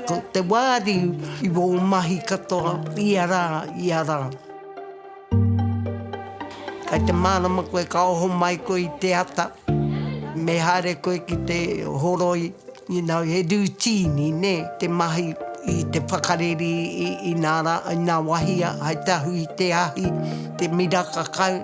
Ko te wāriu i wō mahi katoa ia rā, ia rā. Kai te mārama koe ka oho mai koe i te ata, me haere koe ki te horoi, you know, he rūtīni, nē, te mahi i te whakareri i nā rā, i nā wahia, hai te ahu i te ahi, te miraka kau.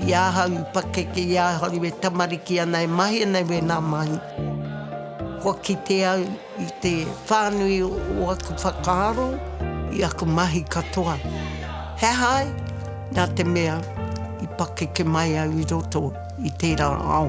I ahau i pakeke, i ahau e tamariki ana, e mahi ana i wēnā mahi. Kua kite au i te whānui o aku whakaaro, i aku mahi katoa. He aha ai? Nā te mea, i pakeke mai au i roto i tērā ao.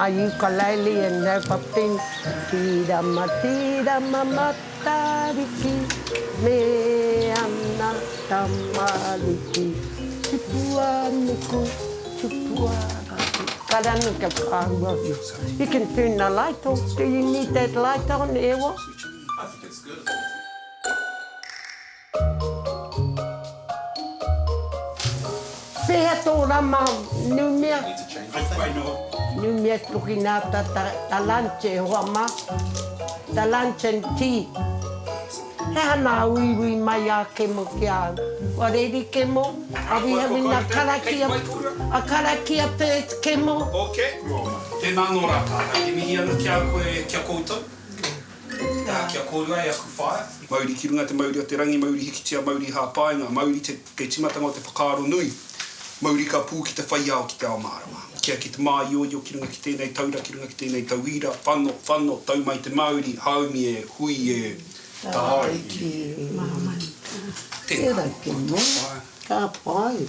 A ukulele and no pop then Tirama tirama Matariki Me ana tamariki Tupua nuku Tupua rapu Ka ranu kia whakaahua You can turn the light off Do you need that light on Ewa? Pehea to rama numia? Numia tokinata ta lunch e hoa ma, ta lunch and tea. He ana uiui mai a Kemo ki a au. Kua reri Kemo, are we having a karakia, a karakia first Kemo? Ok, tena no ra tatou, e mihi ana ki a koe, ki a koutou. Ā, kia kōrua e aku whaea. Mauri ki runga te mauri o te rangi, mauri hikitia, mauri hāpainga, mauri te, kei timatanga o te whakaaro nui, mauri ka pū ki te whai ao, ki te ao mārama. Kia ki te māioio ki runga ki tēnei taura, ki runga ki tēnei tauira, whano, whano, tau mai te Māori, haumi e, hui e, tāiki e. Tēnā koutou whaea. Ka pai.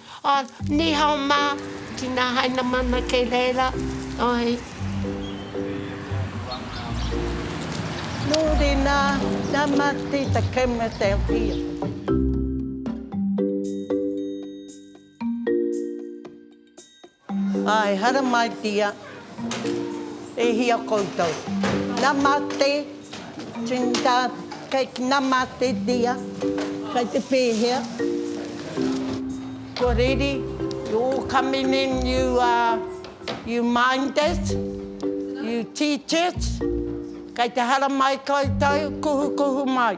Oh, ni hao ma, tina haina mana kei reira, oi. No rena, na mati ta kemna te awhia. Ae haramaitia e hia koutou. Namaste Trinidad kei te namaste dia kei te pehea kua reri you're coming in you uh you minders you teachers kei te haramai koutou kuhukuhu mai.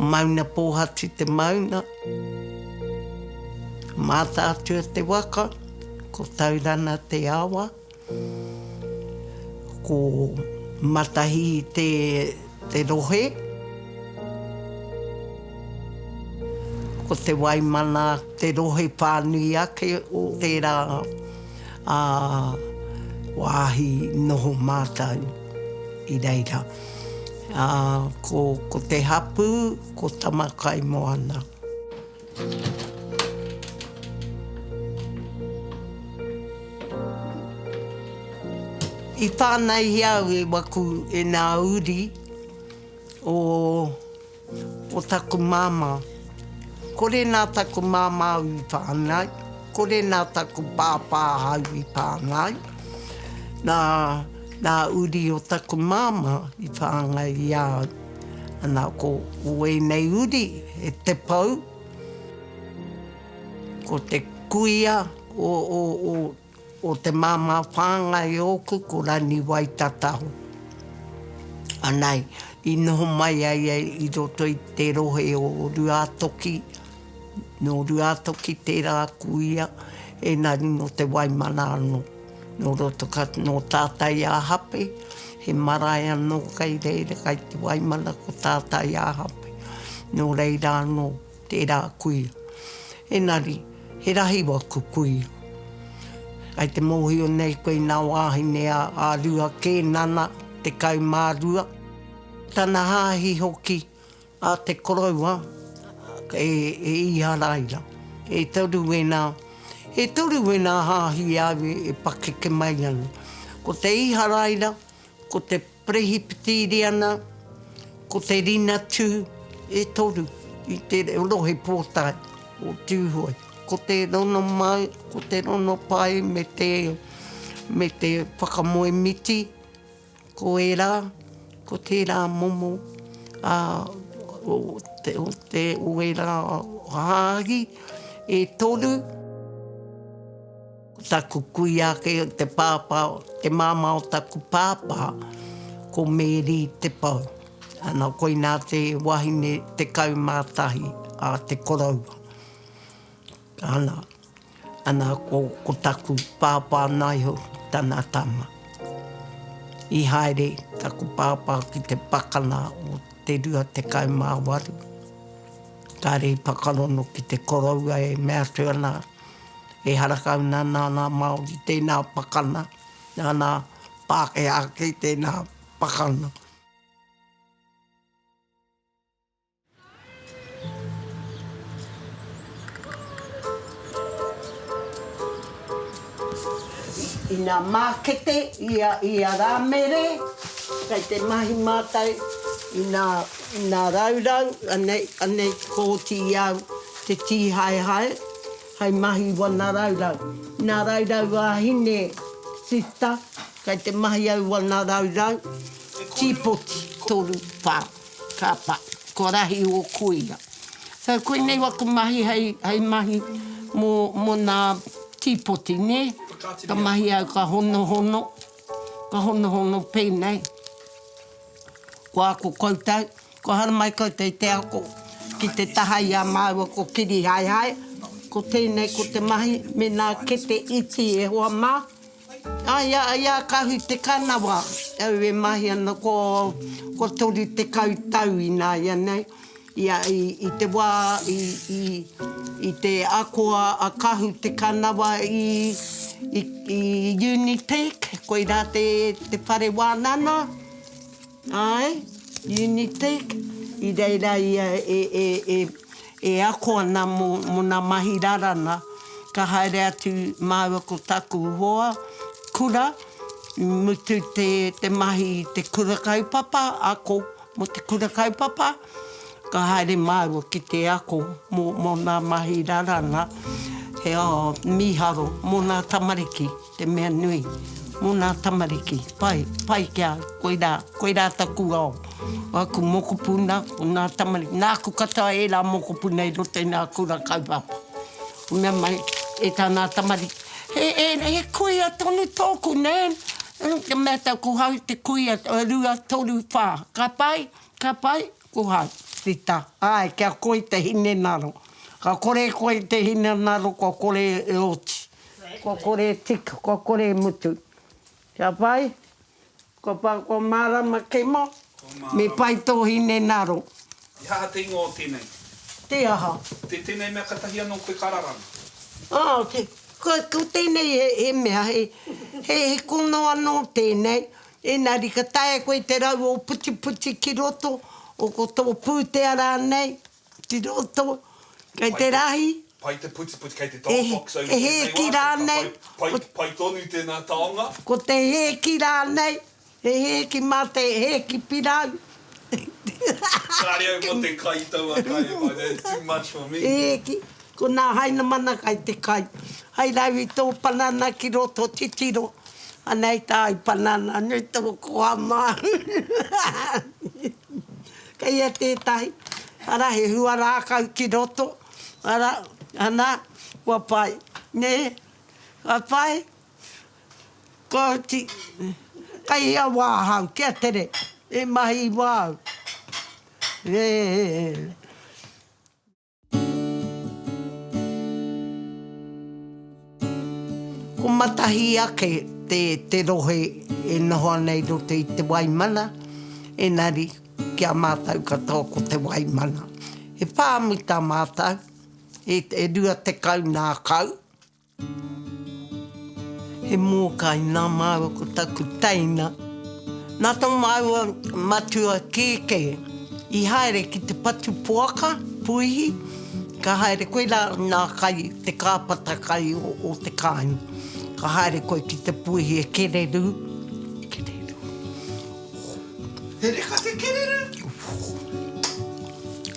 Mauna Pōhatu te maunga, Mātaatua te waka, ko Taurana te awa, ko Matahi te te rohe, ko Te Waimana te rohe whānui ake o tērā ā, wāhi noho mātou i reira. Ā, ko, ko te hapū, ko Tamakaimoana. I whānaihia au e waku, e nā uri o. o taku māmā. Kore nā taku māmā au i whānau, kore nā taku pāpā au i whānau, nā ngā uri o taku māmā i whāngai i a au. Ana, ko ēnei uri, he te pou, ko te kuia o O te māmā whāngai ōku ko Rani Waitataho. Anei, i noho mai a ia i roto i te rohe o Ruātoki, nō Ruātoki tērā a Kuia, ēnari nō Te Waimana anō. Nō roto ka, nō Tātaiāhape, he marae anō kei reira, kei Te Waimana ko Tātaiāhape. Nō reira anō. Tērā kui. Engari, he rahi waku kui. Kei te mōhio nei koe nā wāhine a Arua kē nana, 12. Tana hāhi hoki a te koroua, e Īharaira. E toru wēnā, e toru wēnā hāhi e au e pakeke mai ana. Ko te Īharaira, ko te. Perehipitīriana, ko te rinatū e toru i te rohe pōtae o Tūhoe, ko te rono mau, ko te rono pai me te, me te whakamoe miti, ko ērā, ko tērā momo ā, o te, o te, o ērā hāhi e toru. Ko taku kuia ake o te pāpā, te māmā o taku pāpā, ko Meri Te Pou. Ana, koinā te wahine 11 a te koroua. Ana, ana ko, ko taku pāpā naiho tana tama. I haere taku pāpā ki te pakana o te rua tekau mā waru, kāre i whakarono ki te koroua e mea atu ana, e harakau na na nga Maori tena pakana na na Pakeha ake tena pakana. Ina makete ia ia ra mere kai te mahi matou ina ina raurau anei anei koti iau. Te Tīhaehae, hai mahi wana raurau. Nā Raurau Wāhine Sister, kai te mahi au wana raurau, tīpoti, toru, whā, ka pa, ko Rahi o Koia. So koinei waku mahi hai, hai mahi mo, mo nā tīpoti, nē? Ka mahi au ka honohono, ka honohono pēnei, ko ako koutou, Kua haere mai koutou i te ako ki te taha i a māua ko Kirihaehae, ko tēnei ko te mahi me nā kete iti e hoa mā. Ā, i a, i a Kahu Te Kanawa au e mahi ana ko, kua 30 tau ināianei, i a, i, i te wā i, i, i te ako a, a Kahu Te Kanawa i, i, i Unitec, koirā te, te whare wānana. Āe, Unitek, i reira ia e ako ana mō ngā mahi raranga, ka haere atu māua ko taku hoa kura, i mutu te mahi i te kura kaupapa, ako mō te kura kaupapa, ka haere māua ki te ako mō ngā mahi raranga, he aha, mīharo mō ngā tamariki. Te mea nui, mō nā tamariki, pai, pai ki a au, koirā, koirā taku ao, o aku mokopuna, o nā tamariki, nāku katoa ērā mokopuna i roto i nā kura kaupapa. Ka mea mai, e tā nā tamariki, he, he, he kuia tonu tōku, Nan, ū, ka mea tāu, ko hau te kuia, rua, toru, whā, ka pai, ka pai, ko hau. Rita, āe, kia koi te hinengaro, ka kore e koe i te hinengaro, kua kore e oti. Kua kore e tika, kua kore e mutu. Kia pai, kua pa, kua marama kemo, me pai to hine naro. He aha te ingoa o tenei? Te aha? Te tenei mea katahi ano koe ka raranga? Oh, te, ko, ko tenei he, he mea, he, he, he kono ano tenei. Enari ka taea koe te rau o putiputi ki roto, o ko to putea ranei. Te roto, kei te rahi. Pai te putiputi, kei te tall box over tēnei wā. He hēki rānei. Pai tonu tēnā taonga. Ko te hēki rānei, he hēki mā te hēki pirau. Kāre au mō te kai i taua kai e whai, that's too much for me. He hēki, ko nā Hainamana kai te kai. Hai rau i tō panana ki roto titiro, anei tā i panana, nui tō koha māu. Kei a tētahi, ara, he hua rākau ki roto, ara, ana, kua pai, nē, kua pai, kua oti, kei hea wā ahau, kia tere, e mahi wā au, ē, ē, ē. Ko Matahi ake te te rohe e noho ana i roto i Te Waimana, engari ki a mātou katoa ko Te Waimana. He pāmu tā mātou, e rua tekau nā kau. He mōkai nā māua ko taku teina. Nā tō māua matua kēkē i haere ki te patu poaka, puihi, ka haere koe rā nā kai te kāpata kai o te kāinga. Ka haere koe ki te puihi e kererū, kererū, oh. He reka te kererū?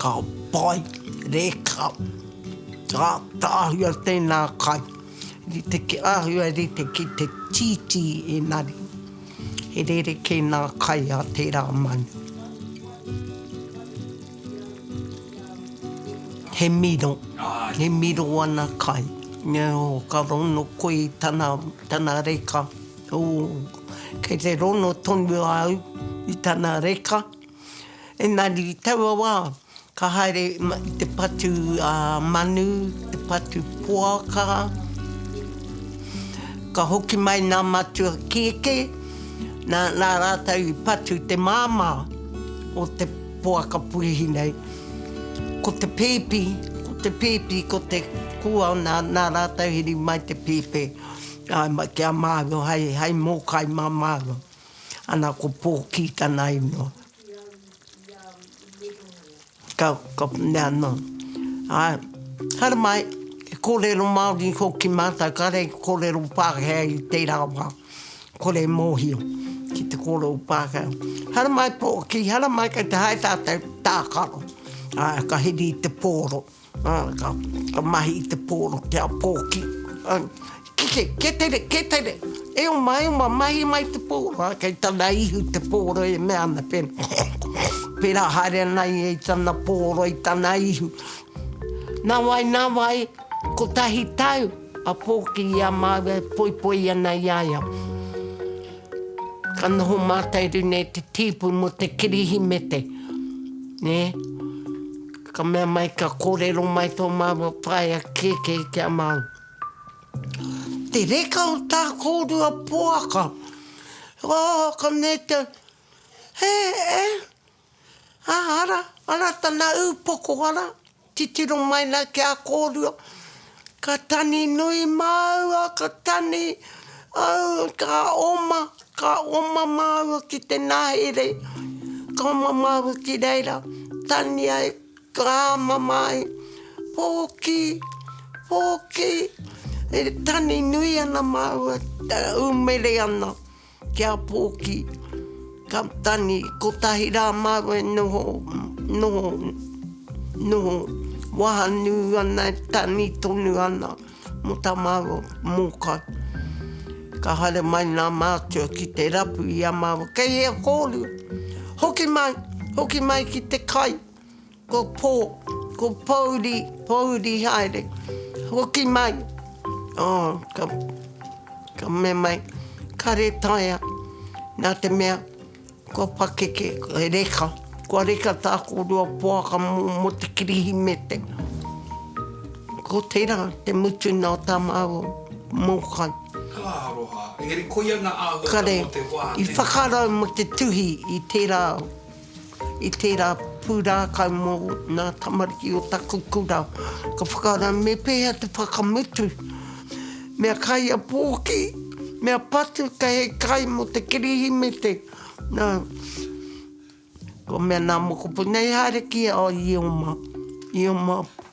Ka pai, reka. Ka āhua tēnā kai rite ki āhua rite ki te tītī engari he rerekē nā kai a tērā manu. He miro, e miro ana kai. Nō ka rono koe i tana, tana reka, ōu, kei te rono tonu au i tana reka, engari i taua wā, Ka haere i te patu manu, te patu poaka, ka hoki mai nā matua kēkē, nā, nā rātou i patu te māmā o te poaka puihi nei. Ko te pēpi, ko te pēpi, ko te kua, nā, nā rātou heri mai te pēpe, ā, ki a māua, hai, hai mōkai mā māua. Ana, ko Pōkī tana ingoa. Ka, ka, nā, nō. Āe, haere mai, he kōrero Māori hoki mātou, kāre i kōrero Pākehā i tērā wā, kore e mōhio ki te kōrero Pākehā. Haere mai pō, ki haere mai kei te haere tātou tākaro, āe, ka hiri i te pōro. Ka mahi i te pōro kia pōki. Kite, kia tere, kia tere. E oma, e oma, mahi mai te pōro. Kei tana ihu te pōro e mea ana, pērā haere ana ia i tana pōro, i tana ihu. Nā wai, nā wai, kotahi tau a pōki i a māua e poipoi ana i a ia. Ka noho mātau i runga i te tīpu mō te Kirihimete. Ka mea mai ka korero mai to maua whaea keke ki a mau. Te reka o ta korua poaka. Oh ka mea te, he e, a ara, ara tana upoko ara, titiro mai na ki a korua. Ka tani nui māua, ka tani, au, ka oma, ka oma māua ki te nahere, ka oma māua ki reira, tani ai, ka āmama ai, pōkī, pōkī, e tani nui ana māua, e ū mere ana. Kia pōki, ka tangi, kotahi rā māua e noho, noho, noho, waha nū ana e tangi tonu ana mō tā māua mōkai. Ka haere mai nā mātua ki te rapu i a māua, kei hea kōrua? Hoki mai, hoki mai ki te kai, Ko pō, ko pōuri, pōuri haere. Hoki mai, oh, ka, ka mea mai, ka retaia, nā te mea, kua pakeke, he reka, kua reka tā kōrua poaka mō, mō te Kirihimete. Ko tērā te mutunga o tā māua mōkai. Ka aroha, engari koia ngā āhuatanga o te wā, tēnā. Kare, i whakarau mō te tuhi i tērā. I tērā pūrākau mō ngā tamariki o taku kura, ka whakaara me pēhea te whakamutu. Mea kaiapōki, mea patu kei hei kai mō te Kirihimete, nā, kua mea nā mokopuna, e haere ki a Ioma, Ioma.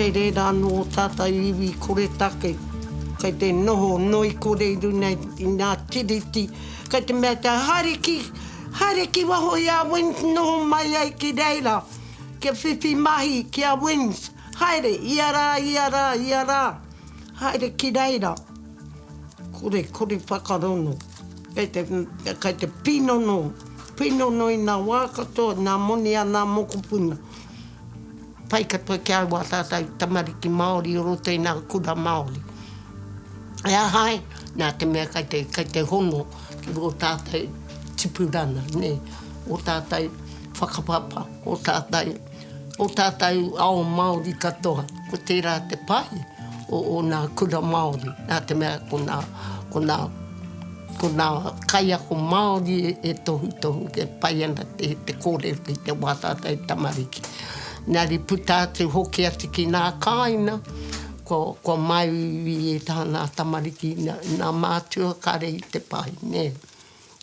Kei reira anō ō tātou iwi koretake, kei te noho noi kore i runga i ngā tiriti, kei te mea kia haere ki, haere ki waho i a Wings noho mai ai ki reira, kia whiwhi mahi ki a Wings, haere, ia rā, ia rā, ia rā, haere ki reira. Kore, kore whakarongo. Kei te, kei te pinono, pinono i nā wā katoa, nā moni a nā mokopuna. Pai katoa ki a au a tātou tamariki Māori o roto i nā kura Māori. E aha ai, nā te mea kei te, kei te hono ki rō tātou tipurana, nē, ō tātou whakapapa, ō tātou. O tātou ao Māori katoa, ko tērā te pai o ōna kura Māori, nā te mea ko nā, ko nā, ko nā kaiako Māori e tohutohu, e pai ana te, te kōrero ki te wā tātou tamariki. Engari puta atu hoki atu ki nā kāina, kua, kua māu i ētahi o nā tamariki, nā, nā mātua, kāre i te pai, nē.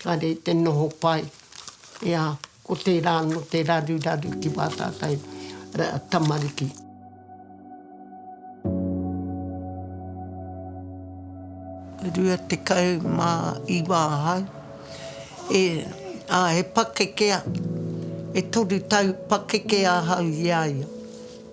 Kare i te noho pai, ea, ko tera ano te raruraru ki wa tatou tamariki. Rua tekau ma iwa ahau e, a, he pakekea, e toru tau pakekea ahau i a ia.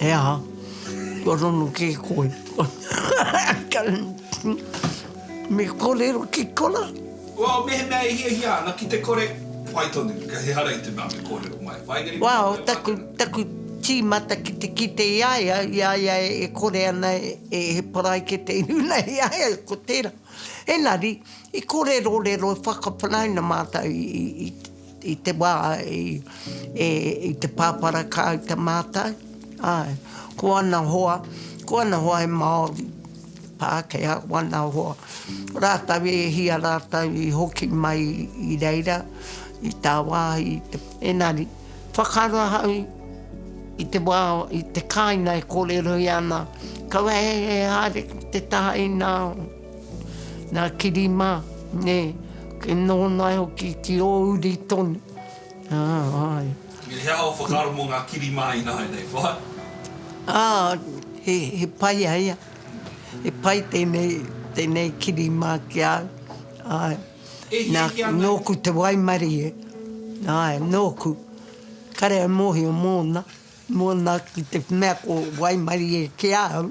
He aha? Kua rongo kē koe? Me kōrero ki kona? Well, mehemea e hiahia ana ki te kore, pai tonu, ka he hara i te mea me kōrero mai. Waenganui Well, mai taku, wātau. taku tīmata ki te kite i a ia, i a ia e kore ana e, he paraikete i runa i a ia, ko tērā. Engari, i kōrerorero, i whakawhanauna mātau i, i, i, I te wā i te pāpara kāu te mātau, āe, ko ana hoa, ko ana hoa e Māori, Pākehā, ko ana hoa, ko rātau e hia rātau i hoki mai i reira, i tāwāhi, i te. Engari, whakaaro ahau i te wā, i te kāinga e kōrerohia ana, kaua e haere ki te taha inā. Nā kiri mā, nē, kei nōnai hoki ki ō uri tonu, ā, āe. Me he aha ō whakaaro mō ngā kiri mā ināianei wā? Ā, he, he pai a ia. He pai tēnei, tēnei kiri mā ki a au, āe. E hiahia ana ia. Nā, nōku te waimarie, āe, nōku. Kare au mōhio mōna, mōna ki te mea ko waimarie ki a au.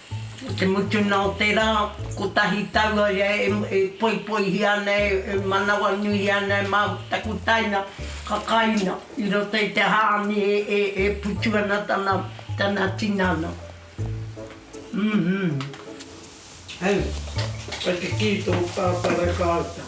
I te mutunga o te rā, kotahi tau au ia e poipoihia ana, e manawanuihia ana e māu ki taku taina kakaina i roto i te hāmi e putu ana tana tinana. Hei, ka kikī tō pāpara kāta.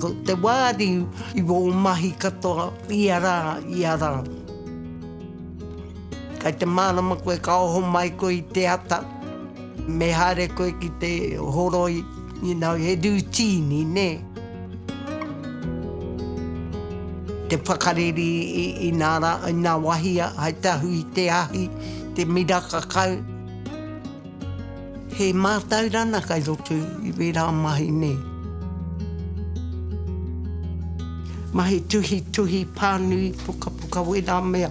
Ko te wāriu i wō mahi katoa ia rā, ia rā. Kei te mārama koe ka oho mai koe i te ata. Me haere koe ki te horoi, you know, he rūtīni, nē. Te whakareri i, i nā rā, i nā wahia, hai te ahu i te ahi, te miraka kau. He mātaurana kai roto i wērā mahi, nē. Mahi tuhituhi, pānui, pukapuka, wērā mea.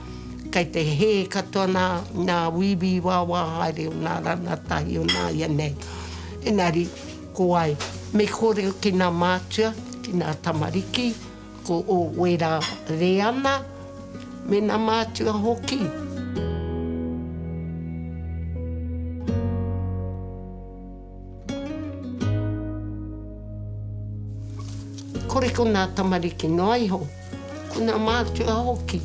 Kei te hē katoa nā, nā wīwī wāwā haere o nā ranatahi o nā ia nei. Enari, ko wai, me kore ki nā mātua, ki nā tamariki, ko ō wera reana, me nā mātua hoki. Kore ko nā tamariki noa iho, ko nā mātua hoki.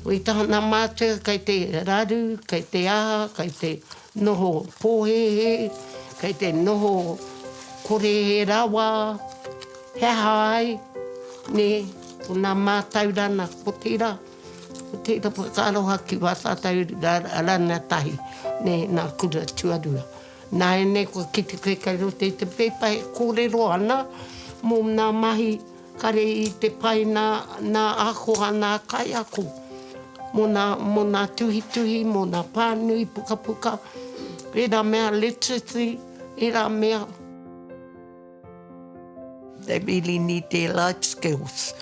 Wai taha nā mātua kei te raru, kei te aha, kei te noho pōhēhē, kei te noho kore he rawa, he aha ai, nē, ko nā mātau rāna, otirā. Ko tēnā whakaaroha ki wā tātou rana tahi, nē, nā Kura Tuarua. Nāianei kua kite koe kei roto i te pēpa e kōrero ana mō nā mahi kare i te pai nā, nā ako a nā kaiako, mō nā, mō nā tuhituhi, mō nā pānui pukapuka, ērā mea literacy, ērā mea. They really need their life skills.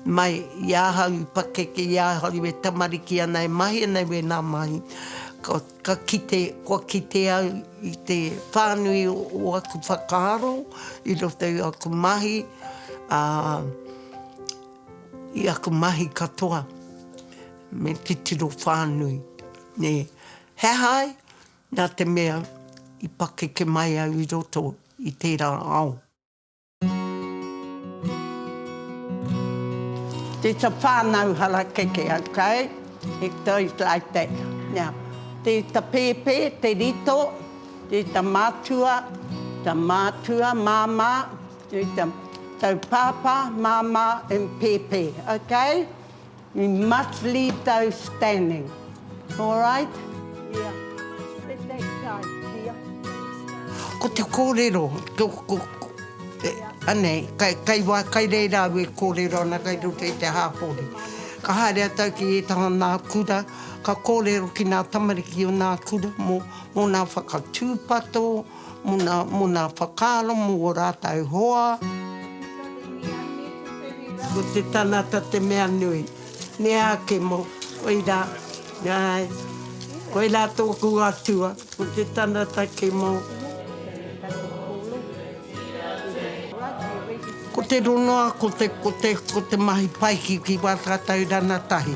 Mai i ahau i pakeke i ahau e tamariki ana e mahi ana i wēnā mahi, ka, ka kite, kua kite au i te whānui o aku whakaaro i roto i aku mahi, ā, i aku mahi katoa me titiro whānui, nē. He aha ai? Nā te mea, i pakeke mai au i roto i tērā ao. It's a whānau harakeke, ok? It goes like that. Now, tē ta pēpē, te rito, tē ta mātua, ta mātua, māmā, tē ta taupāpā, māmā and pēpē, ok? We must leave those standing. Alright? Yeah. Spend that time, dear. Ko te kōrero, ko, ko, ko, e, anei, kai, kai, wā, kai reira au e kōrero ana kai roto i te hāpori. Ka haere a tau ki ētaha nā kura, ka kōrero ki nā tamariki o nā kura mō, mō nā whakatūpato, muna, muna whakaaro mo o ratou hoa. Ko te tangata te mea nui. Mea ake mo, koira, ae, koira toku Atua, ko te tangata ke mo. Ko te rongoa, ko te, ko te, ko te mahi pai ki, ki Watataurana tahi.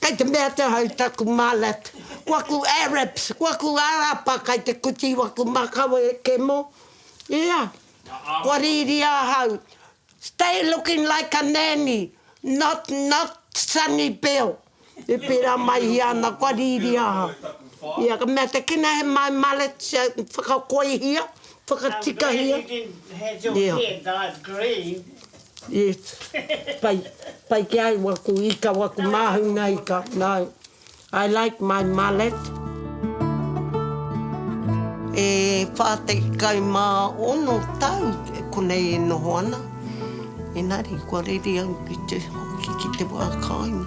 Kei te mea atu ahau taku malet, ko aku Arabs, ko aku Arapa kei te kuti i waku makau e kemo, ia, kua riri ahau, stay looking like a nanny, not not Sonny Bill, i pera mai i ana kua riri ahau, ia, ka mea te kina he my malet whakakoihia, whakatikahia, ia. Yes. Pai. Pai ki au aku ika, aku māhunga ika. No. I like my mullet. E wha tekau ma ono tau konei e noho ana, engari kua reri au ki te hoki ki te wa kainga.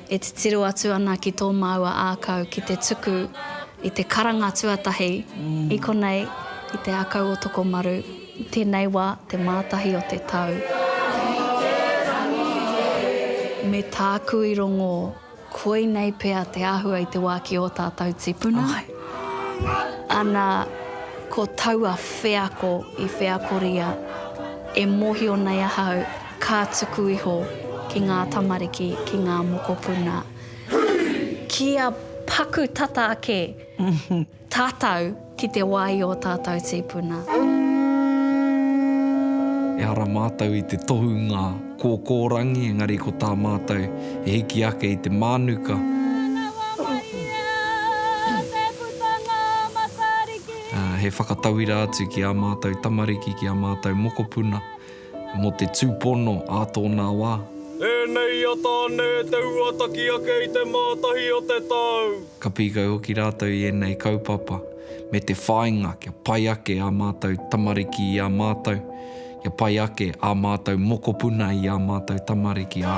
E titiro atu ana ki tō māua ākau ki te tuku i te karanga tuatahi, i konei, i Te Akau o Tokomaru, i tēnei wā, te Mātahi o te tau. Me tāku i rongō, koinei pea te āhua i te wā ki ō tātou tipuna, ana, ko taua wheako i wheakoria, e mōhio nei ahau, Ka tuku iho ki ngā tamariki, ki ngā mokopuna, kia paku tata ake tātou ki te wā i ō tātou tīpuna. Ehara mātou i te tohunga kōkōrangi, engari ko tā mātou e hiki ake i te mānuka. He whakatauira atu ki ā mātou tamariki, ki ā mātou mokopuna. Mō te tūpono ā tōnā wā. Ēnei i a Tāne te huataki ake i te Mātahi o te tau. Ka pīkau hoki rātou i ēnei kaupapa me te whāinga kia pai ake ā mātou tamariki i a mātou, kia pai ake ā mātou mokopuna i ā mātou tamariki, ā.